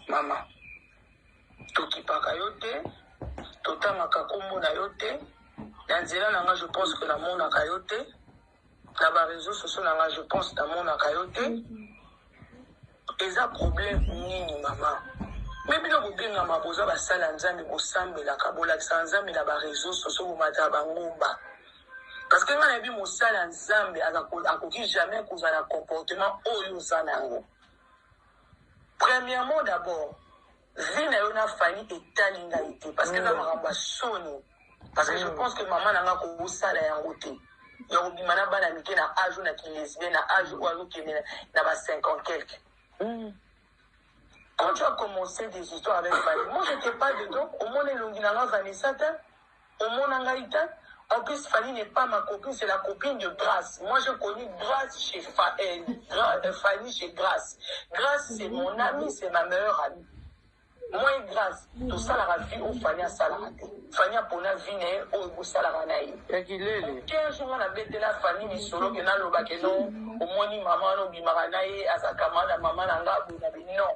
mama tokipaka yo te totangaka nkombo na yo te na nzela na ngai je pense que namonaka yo te na bareseau sociaux na ngai je pense namonaka yo te eza problème nini mama me bino bobengama boza basali ya nzambe bosambelaka bolakisaka nzambe na bareseau sociaux bomataka bangomba parce que ngai nayebi mosali ya nzambe akoki jamais kozala comportement oyo oza na yango Premièrement d'abord, vie na yo na Fanny etali ngai te parce que eza makambo ya soni parce que je mm. pense que mama na ngai akosala yango te ya kobima na bana mike na age oyo na kilesbien na age oyo azokende na ba 50 quelque mm. quand tu as commencé des histoires avec Fanny moi j'étais pas dedans omona elongi na ngai Vanessa te Omona ngai te en plus Fanny n'est pas ma copine c'est la copine de Grace moi j'ai connu Grace chez Fa, eh, Gra, eh, Fanny chez Grace Grace c'est mon ami c'est ma meilleure amie moi et Grace tosalaka vie oyo Fanny asalaka te Fanny apona vie na ye oyo ekosalaka na ye ya kilele un jour nga nabetela Fanny misolo ke naloba ke non omoni mama wana obimaka na ye azakama na mama na nga boye na bino non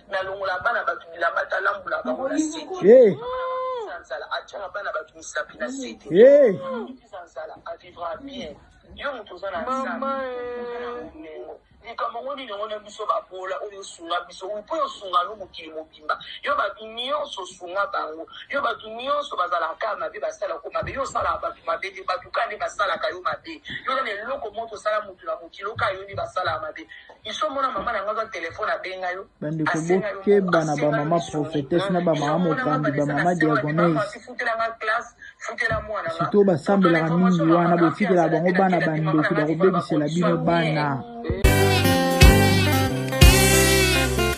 Nalongola bana bato bilamba ata alambola bango na se te. Hey. Akokiza nzala atyaka bana bato misapi na se te. Hey. Akokiza nzala avivra bien. Yo moto oza na nzala, Mama, eh. oza na bomengo. Likambo yango nini yango na biso babola oyo osunga biso oyo mpo osunga no mokili mobimba yo bato nyonso osunga bango yo bato nyonso bazalaka kaka mabe basalaka yo mabe yo osalaka bato mabe te bato kaka nde basalaka yo mabe yo na eloko moko osala moto na mokili oyo kaka yo nde basalaka mabe Iso mona mama na nga telephone abenga yo. Bandeko bokeba na ba mama prophetesse na ba mama mokambi ba mama diagonese. Sito basambelaka mingi wana botikela bango bana bandoki bakobebisela bino bana.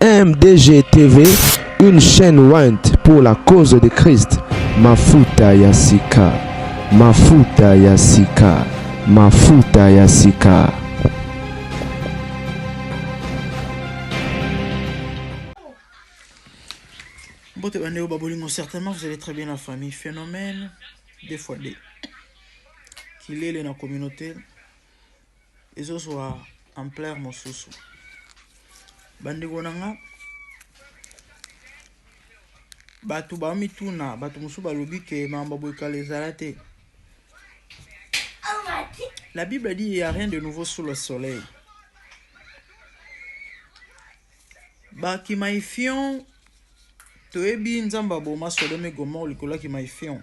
MDGTV, une chaîne went pour la cause de Christ. Mafuta ya sika, mafuta ya sika, mafuta ya sika. Mbote bandeko babolingo certainement vous allez très bien la famille phénomène des fois des kilele na communauté ezozwa ampleur mosusu bandeko na nga bato baomituna bato mosusu balobi ke mambo boye kala ezala te la bible dit il y a rien de nouveau sous le soleil bakimaifion toyebi nzambe aboma sodome gomor likolo ya kimaifion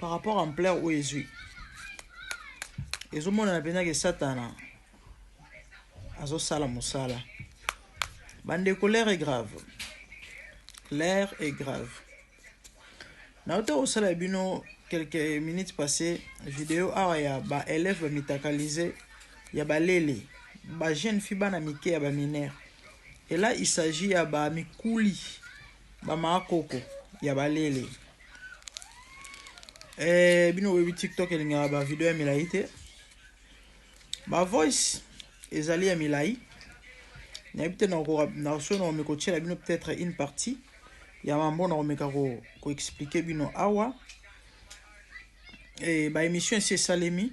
par rapport à ampleur oyo ezwi ezomonana mpenza ke satana azosala mosala bandeko l'air est grave l'air est grave nauta kosala ya bino quelques minutes passé video awa ya baélève bamitakalise ya balele bajeune fi bana mike ya baminere ela il s'agit ya bamikuli Bamaka koko ya balele. Eh, bino boyebi TikTok elingaka ba video ya milayi te. Ba voice ezali ya milayi. Nayebi te nakoka na so na omeko tiela bino peut-être une partie ya mambo na omeka ko ko expliquer bino awa. Eh, ba émission esi esalemi.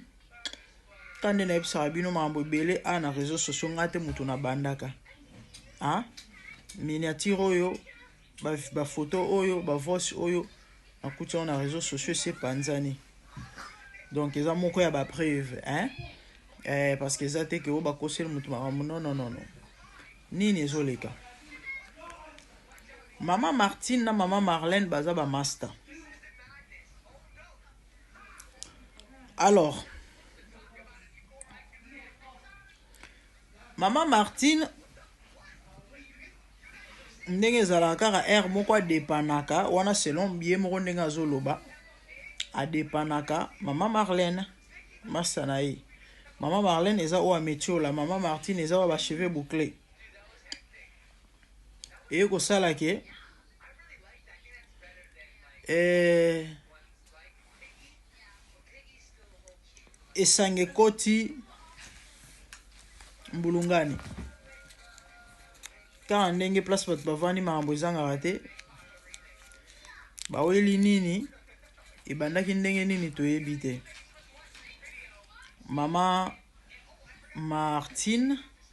ta nde nayebisaka bino makambo ebele a na réseau sociaux ngai te moto nabandaka a miniature oyo bafoto ba oyo bavoice oyo nakuti yango na réseau sociaux esi epanzani donc eza moko ya bapreuve hein eh, parce que eza te ke oyo bakoseli moto makambo nononono nini ezoleka mama martine na mama marlene baza bamasta Alors, Maman Martine, ndenge ezalaka kaka heure moko adepanaka wana selon ye moko ndenge azoloba adepanaka mama marlene masa na ye mama marlene eza oyo ametiola mama martine eza oyo bacheveux boucle eye kosala ke eh, esange koti mbulungani kaka ndenge place bato bavandi makambo ezangaka te baweli nini ebandaki ndenge nini toyebi te mama martine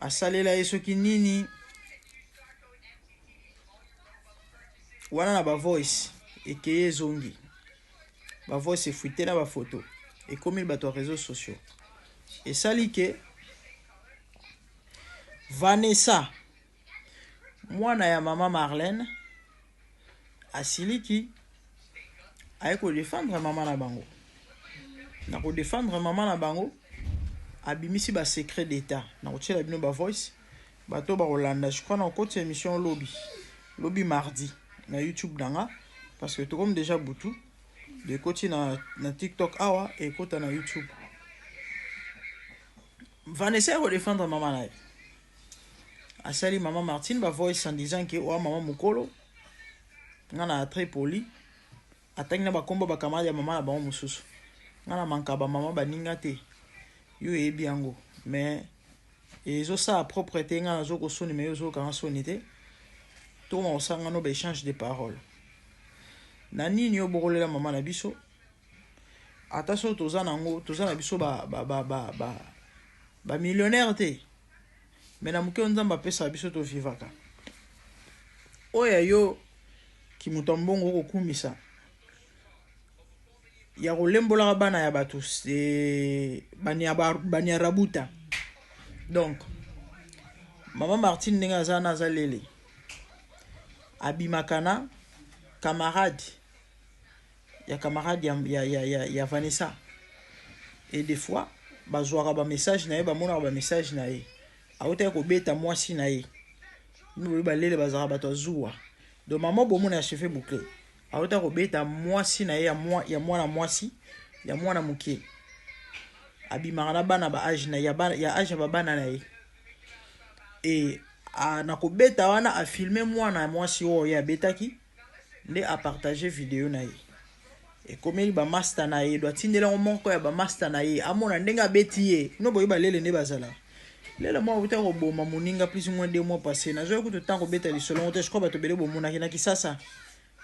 Asalela ye soki nini wana na ba voice ekeye ezongi ba voice efuite na ba photo ekomi bato ya réseaux sociaux esali ke Vanessa mwana ya mama Marlène asiliki aye ko defendre mama na bango na ko defendre mama na bango abimisi ba secret d'etat na kotiela bino ba voice bato bakolanda je crois na kokotisa émission lobi lobi mardi na youtube na nga parce que tokomi déjà butu ekoti na, na tiktok awa ekota na youtube vanessa ya kodefendre mama na ye asali mama Martine ba voice en disant que oa mama mukolo nga na très poli atangi na bakombo bakamada ya mama na bango mosusu nga na manka bamama baninga te yo eyebi yango mais ezosala propre te nga nazo kosoni me yo ozokanga soni te tokoma kosangano baechange de parole na nini yo bokolela mama na biso ata soki toza nango toza na biso ba ba ba ba ba, ba millionnaire te me na moke nzambe apesa biso tovivaka oyo ya yo kimoto ya mbongo okokumisa ya kolembolaka bana ya bato baniarabuta donc mama martine ndenge aza na aza lele abimaka na camarade ya camarade ya, ya, ya, ya, ya Vanessa et des fois bazuaka ba message na ye bamonaka ba message na ye autaki kobeta mwasi na ye boye balele bazalaka bato ya zuwa donc mama bomona ya cheve boucle autaki kobeta mwasi na ye ya, mwa, ya mwana mwasi ya mwana moke abimaka na bana ba age na ya, bana, ya age ya babana na ye e a, na kobeta wana afilme mwana ya mwasi oyo ye abetaki Nde a partager video na ye. Ekomeli ba masta na ye do atindela yango moko ya ba masta na ye amona ndenge abeti ye. Bino boyebi ba lele nde bazala. Lele moko awuti akoboma moninga plus ou moins deux mois passer. Nazwaki kutu temps kobeta lisolo yango te, je crois bato ebele bomonaki na kisasa.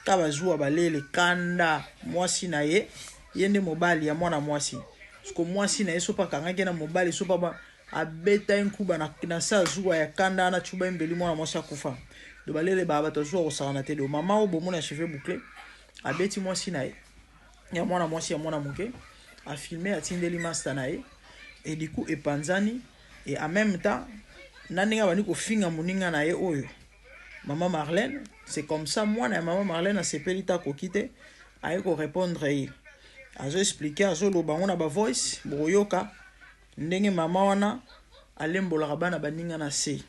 Ka bazuwa ba lele kanda mwasi na ye, ye nde mobali ya mwana mwasi. Siko mwasi na ye sopa akangaki ye na mobali sopa ba Abeta ye nkuba na na se ya zuwa ya kanda wana Tshuba embeli mwana mwasi akufa. Do balele ba bato ya zuwa kosakana te do mama oyo bomona ya cheveux boucle abeti mwasi na ye ya mwana mwasi ya mwana moke a filme atindeli masta na ye et du coup epanzani et en même temps na ndenge abandi kofinga moninga na ye oyo mama Marlène c'est comme ça mwana ya mama Marlène asepeli ta koki te aye ko répondre ye azo expliquer azo loba ngo na ba voice bokoyoka Ndenge mama wana alembolaka bana baninga na se.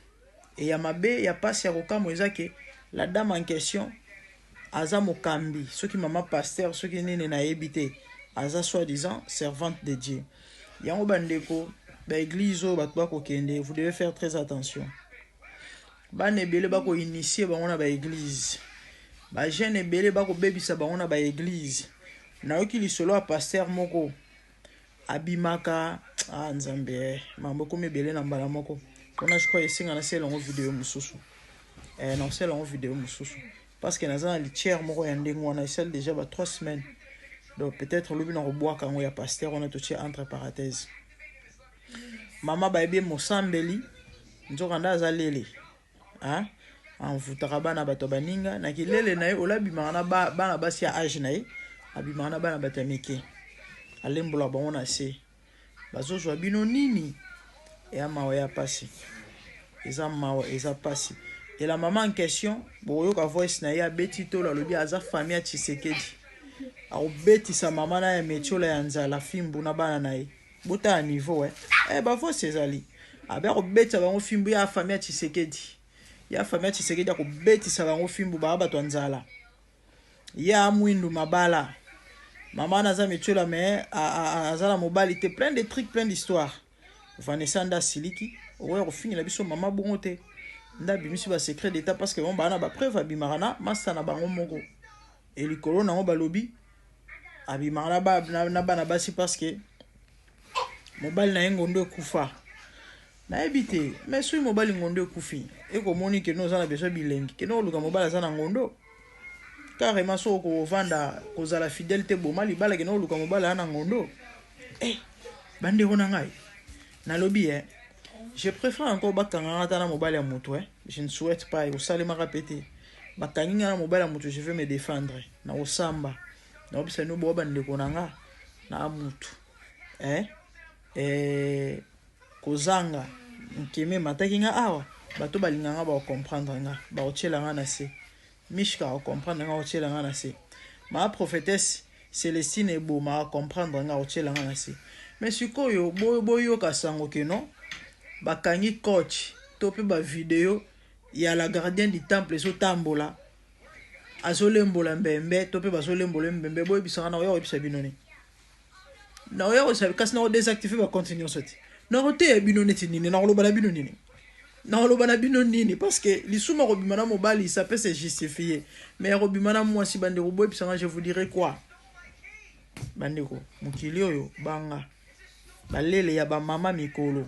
Et ya mabe, ya pasi, ya kokamwa eza que la dame en question aza mokambi, soki mama pasteur, soki nini nayebi te, aza soit disant servante de Dieu. Yango ba ndeko, ba eglises oyo batu ba kokende, vous devez faire très attention. Bana ebele ba ko initier bango na ba eglises. Ba jeunes ebele ba kobebisa bango na ba eglises. Nayoki lisolo ya pasteur moko, abimaka ah nzambe eh, mambo ekomi ebele na mbala moko mpona je crois esenga nasala yango video mosusu eh, nakosala yango video mosusu parce que naza na litiere moko ya ndenge wana esali deja ba 3 semaines donc peut-être lobi nakobwaka yango ya pasteur wana totie entre parenthèse mama bayebi mosambeli nzoka nde aza lele hein envoutaka bana bato ya baninga na kilele na ye ola abimaka na bana basi ya age na ye abimaka na bana bato ya mike alembolaka bango na se bazozwa bino nini eya mawa ya pasi eza mawa eza pasi ela mama en question bokoyoka voice na ye abeti tolo alobi aza famille ya tshisekedi akobetisa mama na ya metiola ya nzala fimbu na bana na ye Botala niveau eh. Eh ba voice ezali. Abe akobetisa bango fimbu ya famille ya Tshisekedi. Ya famille ya Tshisekedi akobetisa bango fimbu ba bato ya nzala. Ya mwindu mabala. Mama wana aza metiola mais aza na mobali te plein de trucs plein d'histoire. Vanessa nda siliki okoya kofingela biso mama bongo te. Nda bimisi ba secret d'état parce que bango bana ba preuve abimaka na masta na bango moko. Et likolo nango balobi abimaka na, ba, na, na bana basi parce que mobali na ye ngondo ekufa nayebi te mais soki mobali ngondo ekufi ekomoni keno oza na besoin bilengi keno oluka mobali aza na ngondo carrément soki okovanda kozala fidèle te boma libala keno oluka mobali aza na ngondo eh, bandeko na ngai nalobi eh, je préfère encore bakangaka ata na mobali ya moto eh. Je ne souhaite pas ekosalemaka pe te bakangi nga na mobali ya mutu je veux me defendre nakosamba nayebisa bino boa ba ndeko na nga na mutu eh eh kozanga nkeme emataki nga awa bato balinga nga bako comprendre nga bako tiela nga na se Michka o comprendre nga otiela nga na se ma prophetesse Celestine eboma o comprendre nga otiela nga na se mais sikoyo bo boyoka sango que non bakangi coach to pe ba video ya la gardienne du temple ezo tambola azolembola mbembe to pe bazolembola ye mbembe boyebisa nga nakoya koyebisa bino nini? nakoya kosabi kasi nako desactive ba compte nyonso te nakoteya bino neti nini nakoloba na bino nini nakoloba na bino nini parce que lisumu ya kobima na mobali ça peut se justifier mais ya kobima na mwasi bandeko boyebisa nga je vous dirai quoi bandeko mokili oyo banga balele ya bamama mikolo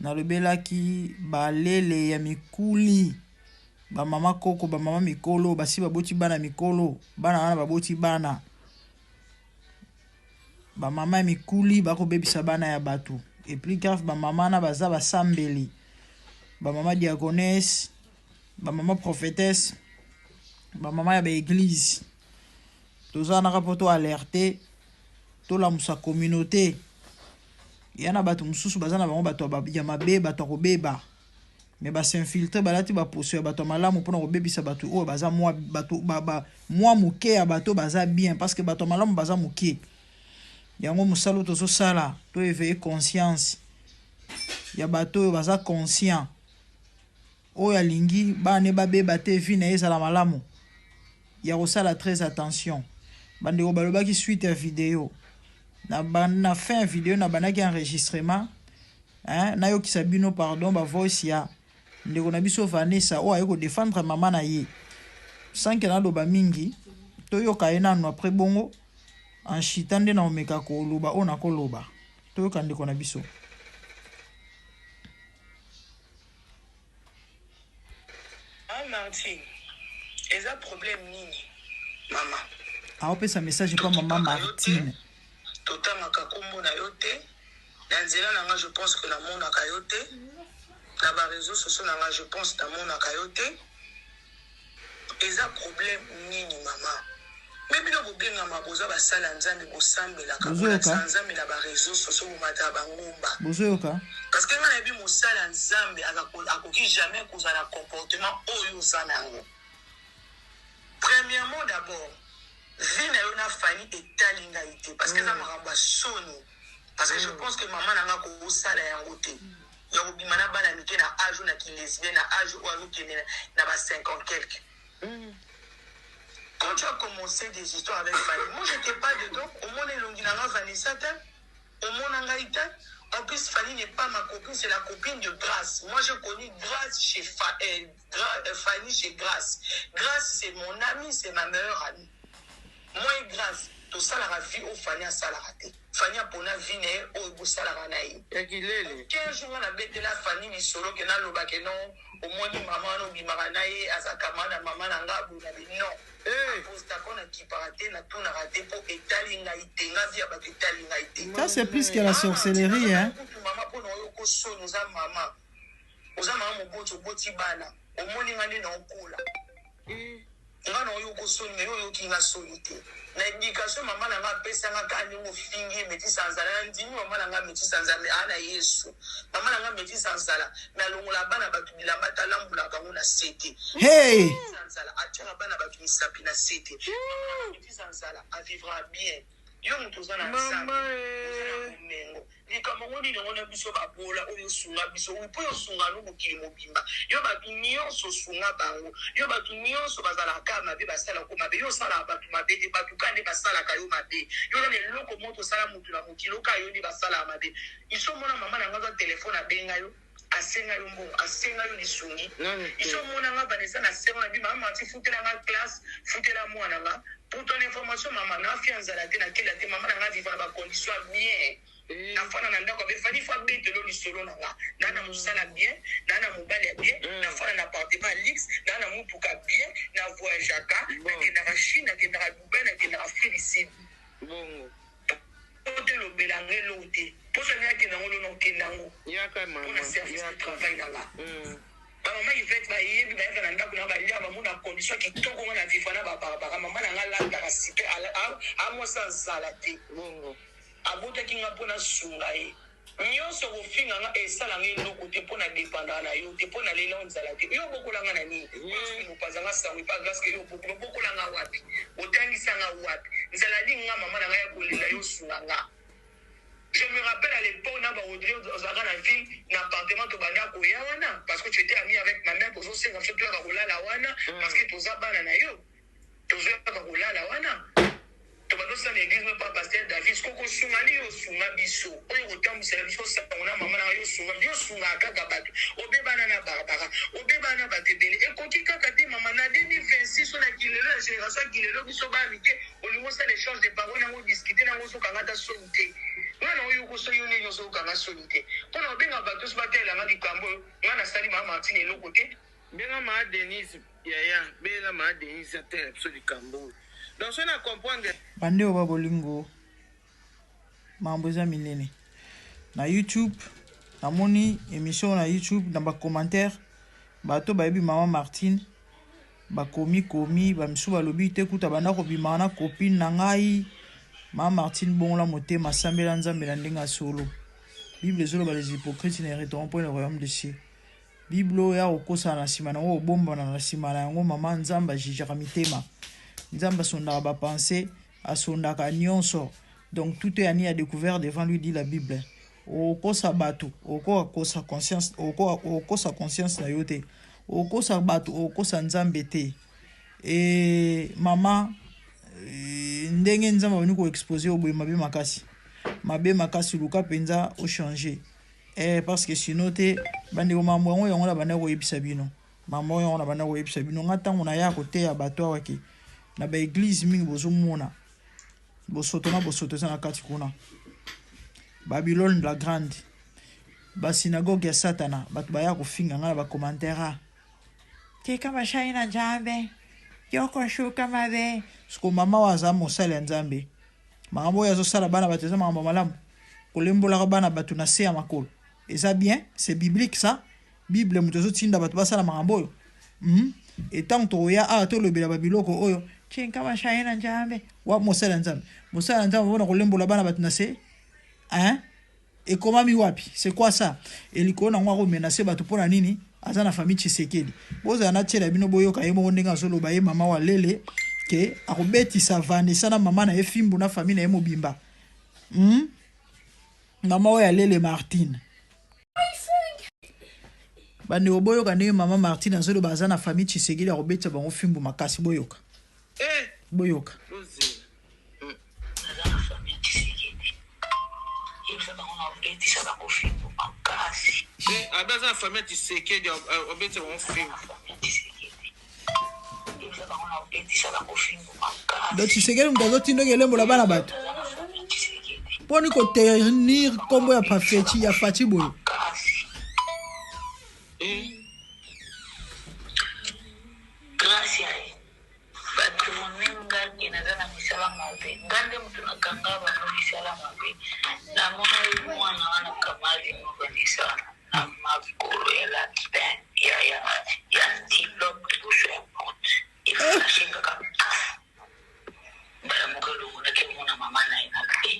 Nalobelaki ba lele ya mikuli, ba mama koko, ba mama mikolo, basi baboti bana mikolo, bana wana baboti bana. Ba mama ya mikuli bakobebisa bana ya bato. Et plus grave, ba mama na baza basambeli. Ba mama diagonesse, ba mama prophétesse, ba mama ya ba église. Toza naka po to alerter Tolamusa communaute. Ya na batu mususu baza na bango batu ya mabe, batu ya kobeba. Mais ba s'infiltrer, balati ba poso ya batu ya malamu pona kobebisa batu oyo baza mwa batu ba, ba mwa moke ya bato baza bien parce que batu ya malamu baza moke. Yango mosala tozo sala, to eveiller conscience ya bato oyo baza conscient. Oyo alingi bana ne ba beba te vie naye ezala malamu ya kosala tres attention bandeko balobaki suite ya video na na fin ya video na bandaki enregistrement hein nayokisa bino pardon ba voice ya ndeko na biso Vanessa oyo aye ko defendre mama na ye sans que naloba mingi toyoka ye nanu après bongo en chita nde na omeka koloba oyo nakoloba toyoka ndeko na biso Maman Martine, eza problème nini maman? Aopesa message pa maman Totangaka yo te, Martine. totangaka kombo na yo te na nzela na nga je pense que namonaka yo te na ba reseaux sociaux na nga je pense namonaka yo te Eza problème nini maman. Mais bino bobengama boza basali ya nzambe bosambelaka bolakisaka nzambe na ba reseaux sociaux bomataka ba ngomba parce que nga nayebi mosali ya nzambe akoki jamais kozala na comportement oyo oza na yango premièrement d'abord vie na yo na fani etali ngai te parce que eza mm. makambo ya soni parce que je mm. pense que mama na nga kosala yango te ya kobima na bana mike na age oyo na ki lesbien na age oyo azokende na ba 50 quelque quand tu as commencé des histoires avec Fally moi j'étais pas dedans omona elongi na nga Vanessa te omona ngai te en plus Fally n'est pas ma copine c'est la copine de Grace moi j'ai connu Grace chez Fa, euh, Fanny chez grace grace c'est mon ami c'est ma meilleure amie moi et grace tosalaka vie oyo fanny asalaka te fanny apona vie na ye oyo bosalaka na ye ya kilele quinze jours nga nabetela fanny lisolo ke naloba ke non omoni mama wana obimaka na ye aza kama na mama na nga boye na bino Eh, postako nakipaka te natunaka te mpo etali ngai te nga vie ya bato etali ngai te Ça, c'est plus que la sorcellerie, hein. kutu mama mpo na oyo okosoni oza mama Oza maman moboti oboti bana omoni nga nde nao kola nga nao yoko soni mais yo oyoki nga soni te na education maman na nga apesa nga ka ndenge ofingi ye metisi anzala na ndimi maman na nga metisi anzala mais ana yesu maman na nga metisi anzala mais alongola bana batu bilamba ata alambola bango na sete hey anzala atiaka bana batu misapi na sete metisi anzala avivra bien yo moto oza na nzambe oza na bomengo Likambo ngo nini ngo na biso ba bola oyo sunga biso oui po yo sunga no mokili mobimba yo batu nionso sunga bango yo batu nionso bazalaka ka mabe basala ko mabe yo osalaka batu mabe te batu ka nde basalaka yo mabe yo nani eloko moko tosala mutu na mokili oka yo nde basalaka mabe iso mona mama na nga aza telephone abenga yo Asenga yo mbongo asenga yo lisungi iso omona nga banda esa na sero na bi mama manti futela nga classe futela muana nga pour ton information mama na fia nzala te na kela te mama na nga viva na ba condition ya bien na fana na ndako abe fani fa betelo lisolo na nga na na musala bien na na mobali ya bien na fana na appartement ya luxe na na mutuka bien na voyageaka na kendaka chine na kendaka dubai na kendaka afrique du sud bongo po te lobela nga eloko te po soki alingi akenda ngo lona okenda ngo po na service de travail na nga ba mama ivete bayebi bayaka na ndako na balia bango na condition kitoko nga na vivra na ba barbara mama na nga alataka site amwasi azala te abotaki nga po nasunga ye Nionso okofinga nga esala nga eloko te po na dependaka na yo te po na lela onzala te yo obokola nga na nini Grace Mupaza nga sango epa Grace ke yo obokola obokola nga wapi otangisa nga wapi nzala li nga maman na nga ya kolela yo sunga nga je me rappelle à l'epoque na ba Audrey ozalaka na ville na appartement tobanda koya wana parce que tu etais ami avec ma mère tozo senga biso toyaka kolala wana parce que toza bana na yo Tozo yaka kolala wana tobando sala eglise no pa pasteur Davis koko sunga ni yo sunga biso oyo kotambusela biso sango na mama na yo sunga yo sunga kaka bato obebana na barbara obebana na bato ebele ekoki kaka te mama na 2026 oyo na kilelo ya generation ya kilelo biso baya mike olingo sala échange de parole nango discuter nango ozokanga ata soni te mwana oyo okoso yo nini ozokanga soni te mpo na obenga bato oso batelelanga likambo oyo ngai nasali mama martine eloko te benga maa denise Yaya benga ma Denise atela biso likambo oyo donc soki na comprendre. Bande oyo ba bolingo mambo eza minene na YouTube na moni emission na YouTube na ba commentaire bato bayebi maman Martine ba komi komi ba misu balobi te kuta banda kobima na copine na ngai maman Martine bongola motema sambela Nzambe na ndenge ya solo Bible ezoloba les hypocrites ne heriteront point le royaume de cieux Bible oyo yako kosana na sima nango obombana na sima na yango maman nzambe ajijaka mitema nzambe asondaka ba pense asondaka nionso donc tout est ani a decouvert devant lui dit la bible okosa batu okoka kosa conscience okoka okosa conscience na yo te okosa batu okosa nzambe te e mama e, ndenge nzambe abandi ko expose yo boye mabe makasi mabe makasi luka mpenza ochange Eeh parce que sinon te ba ndeko makambo yango yango na bandaki koyebisa bino makambo yango yango na bandaki koyebisa bino nga ntango na ya koteya bato awa ke na ba eglise mingi bozomona bosoto na bosoto eza na kati kuna babylone la grande basinagoge ya satana bato baya kofinga ngai na bacommentaire a tika bashai na nzambe yokoshuka mabe siko mama oyo aza mosali ya nzambe Makambo oyo azo sala bana batu eza makambo malamu? Kolembolaka bana batu na se ya makolo eza bien? C'est biblique ça? Bible moto ezo tinda batu basala makambo oyo? Hmm? Et tant tokoya awa tolobela ba biloko oyo chinka mashaye na njambe wa mosala nzambe mosala nzambe mpona kolembola bana batu na se hein? Ekomami wapi? C'est quoi ça? Et likolo nango ako menacer batu pona nini? Aza na famille Tshisekedi. Bozala na tiele ya bino boyoka ye moko ndenge azo loba ye mama wa lele que ako betisa Vanessa na mama na ye fimbu na famille na ye mobimba. Hum? Mama oyo ya lele Martine. Bandeko boyoka ndenge mama Martine azo loba aza na famille Tshisekedi ako betisa bango fimbu makasi boyoka. Eh! Boyoka. Abi aza na famille ya Tshisekedi obeti bango fimbu. Donc Tshisekedi moto azotindoki elembo na bana bato mponi koternir nkombo ya pafeti ya fati boye Batu moni nga ke naza na misala mabe nga nde mutu na kanga bango misala mabe na monaki muana wana kamali mukanisa na makolo ya lapin ya ya ya antilope bouche ya brute eflashe kaka paf mbala moko elongolaki yango na mama na ye na te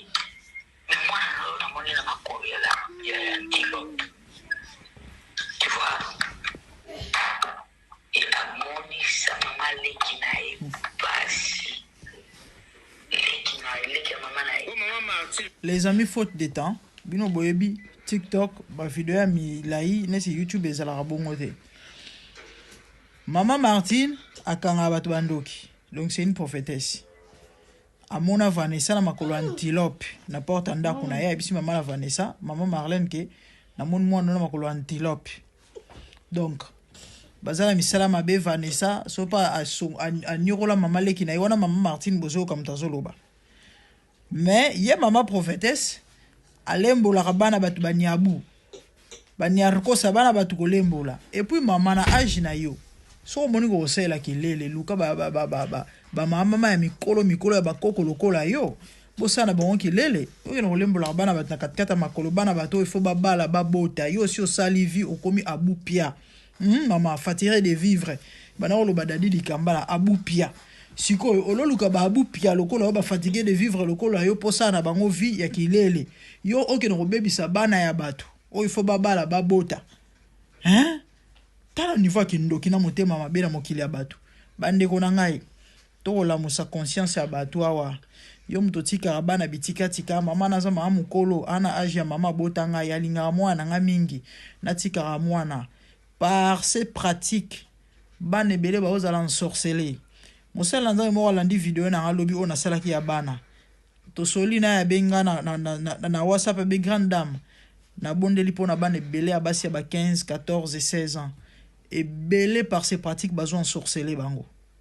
me mwana na yo namoni na makolo ya la- ya ya antilope tu vois amonisa maman leki naye pasi leki naye leki ya maman naye maman marti Les amis faute de temps bino boyebi TikTok ba video ya milayi nesi YouTube ezalaka bongo te Maman Martine akanga bato bandoki donc c'est une prophétesse amona Vanessa na makolo antilope na porte ndako na ye ayebisi mama na Vanessa mama Marlène ke namoni mwana na makolo antilope donc baza na misala mabe vanessa so mpe anyokola mama leki na ye wana mama martine bozoyoka moto azoloba mais ye mama prophetesse alembolaka bana bato banyabu baniarkosa bana bato kolembola epuis mama na age na yo soki omoni kokosalela kelele luka bamamama ya mikolo mikolo ya bakoko lokola yo Bosala na bango kelele oyo na kolembolaka bana bato na katikati ya makolo bana bato oyo faut babala babota yo osi osali vie okomi abupia hum mama fatire de vivre bana koloba dadi likambala abupia sikoyo ololuka ba abupia lokola yo ba fatigue de vivre lokola yo posala na bango vie ya kilele yo oke na kobebisa bana ya bato oyo faut babala babota hein tala niveau ya kindoki na motema mabe na mokili ya bato bandeko na ngai Toko lamusa conscience ya batu awa yo mutu otikaka bana bitika tika maman naza maman mukolo a na age ya maman abota ngai alingaka muana na ngai mingi natikaka muana par ce pratique bana ebele bao zala ensorcele mosali na nzambe moko alandi video na ngai lobi oyo nasalaki ya bana tosoli na ya benga na, na, na, na, na whatsapp ya be grande dame nabondeli mpo na bana ebele ya basi ya ba 15 14 16 ans ebele par ce pratique bazo ensorcele bango